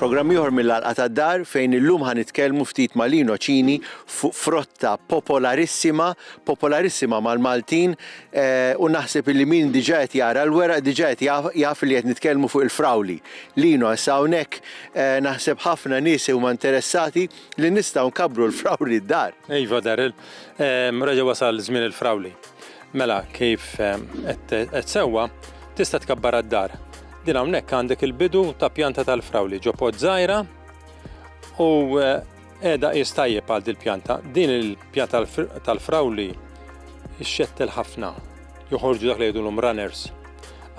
Programm ieħor mill-Għalqa tad-Dar fejn illum ħa nitkellmu ftit ma' Lino Cini fuq frotta popolarissima, popolarissima mal-Maltin u naħseb illi min diġà qed jara l-weraq diġà qed jaf li qed nitkellmu fuq il-frawli. Lino issa hawnhekk eh, naħseb ħafna nies huma interessati li nistgħu nkabbru l-frawli d-dar. Iva Daryl, ehm, reġa' wasal żmien il-frawli. Mela kif ehm, qed sewwa tista' tkabbar d-dar. Din hawnhekk għandek il-bidu ta' pjanta tal-frawli ġo pod żgħira u eh, Qiegħda qies tajjeb għal dil-pjanta. Din il-pjanta tal-frawli xxettel ħafna. Joħorġu dak li jgħidulhom runners.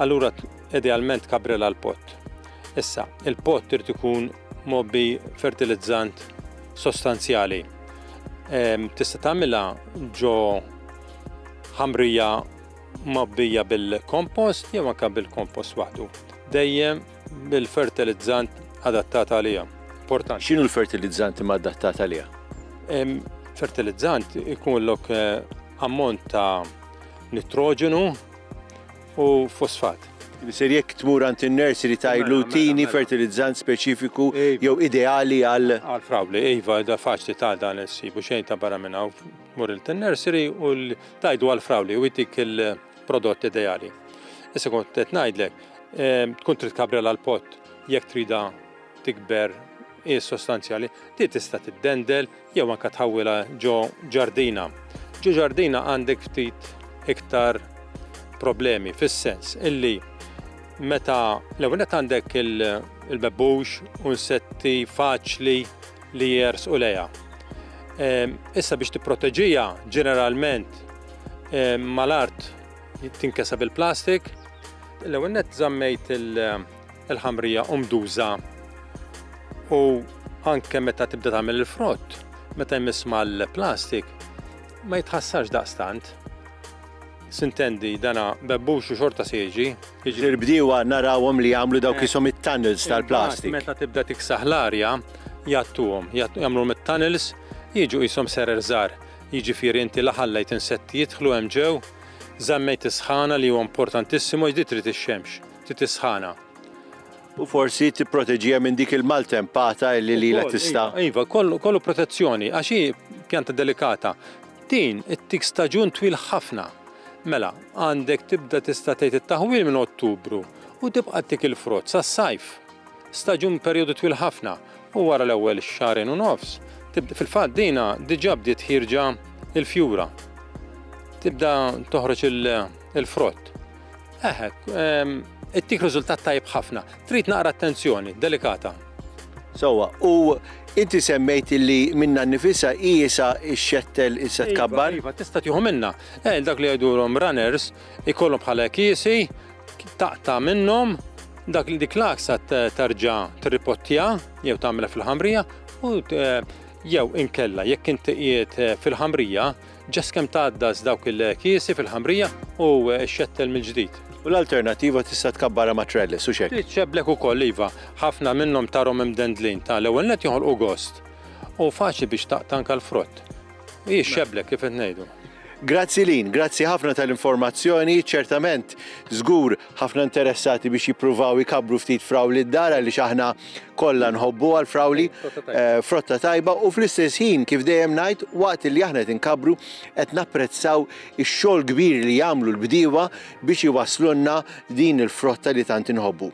Allura idealment kabrela l-pott. Issa, il-pott irid ikun mobbi fertilizzant sostanzjali. Tista' tagħmilha ġo ħamrija mobbija bil-kompost jew anke bil-kompost waħdu. Dejjem Bil-fertilizzant adattat għalija. Portant. X'inhu l-fertilizzant ma adattat għalija? Fertilizzant ikun lok eh, ammont ta' nitroġenu u fosfat. Ser jekk tmur għand in-nursery ta' mela, mela, tini mela. fertilizzant speċifiku jew ideali għal. Għal frawli, iva, da faċli ta' dan issibu xejn ta' barra minn hawn. Mur il-nursery u tajdu għal frawli u jtik il- Prodott ideali. Issa kont qed ngħidlek, ehm, tkun trid kabrel għal pot jekk trida tikber hi sostanzjali, ti tista' tiddendel jew anka tħawwilha ġo ġardina. Ġo ġardina għandek ftit iktar problemi fis-sens illi meta l-ewwel għandek il-bebbux u nsetti faċli li jers u leja. Ehm, issa biex tipproteġija ġeneralment mal-art tinkeseb il-plastik. L-ewwel nett żammejt il-ħamrija umduża u anke meta tibda tagħmel il-frott, meta jmiss mal-plastik, ma jitħassarx daqstant. Sintendi, dana bebbux u xorta seġi. Iġri l-bdiewa narawhom li jagħmlu dawk isom it-tunnels tal-plastik. Meta tibda tiksaħ l-arja, jattuhom, jagħmluhom it-tunnels, jiġu qishom serer żgħar. jiġifieri inti la ħallejt insetti jidħlu hemm ġew, żammejt is-sħana li huwa importantissimo għax di trid ix-xemx, trid is-sħana. U forsi tipproteġiha minn dik il-maltempata illi lilha tista'. Ukoll, iva, iva, kollu protezzjoni għax hi pjanta delikata. Din ittik staġun twil ħafna. Mela, għandek tibda tista' tgħid it-taħwil minn Ottubru u tibqa' tik il-frott sas-sajf. Staġun b'perjodu twil ħafna u wara l-ewwel xahrejn u nofs tibda fil-fatt dina diġà bdiet ħierġa l-fjura. Tibda toħroġ il-frott. Eħe, ehm, ittik riżultat tajb ħafna. Trid naqra attenzjoni, delikata. Sowa, u inti semmejt li minna nifisa jisa xettel issa iva, tkabbar? Iva, tista tieħu minna. Eh, dak li jgħidulhom runners, ikollhom bħala kiesi, taqta' minnhom dak li dik l-aksa tarġa tirripottja jew tagħmilha fil-ħamrija u eh, jew inkella jekk inti qiegħed eh, fil-ħamrija ġas kemm tgħaddas dawk il-kiesi fil-ħamrija u eh, xettel mill-ġdid. U l-alternativa tista' tkabbara ma' trellis u xek. Tiċċeblek ukoll iva, ħafna minnhom tarhom imdendlin ta' l-ewwel net joħolqu gost u faċli biex taqtanka l-frott. Hi xebla kif qed ngħidu. Grazzi lin, grazzi ħafna tal-informazzjoni, ċertament żgur ħafna interessati biex jippruvaw ikabru ftit frawli d-dar li aħna kollha nħobbu għal frawli eh, frotta tajba u fl-istess ħin kif dejjem ngħid waqt li aħna qed inkabru qed napprezzaw ix-xogħol kbir li jagħmlu l-bdiewa biex iwaslunna din il-frotta li tant inħobbu.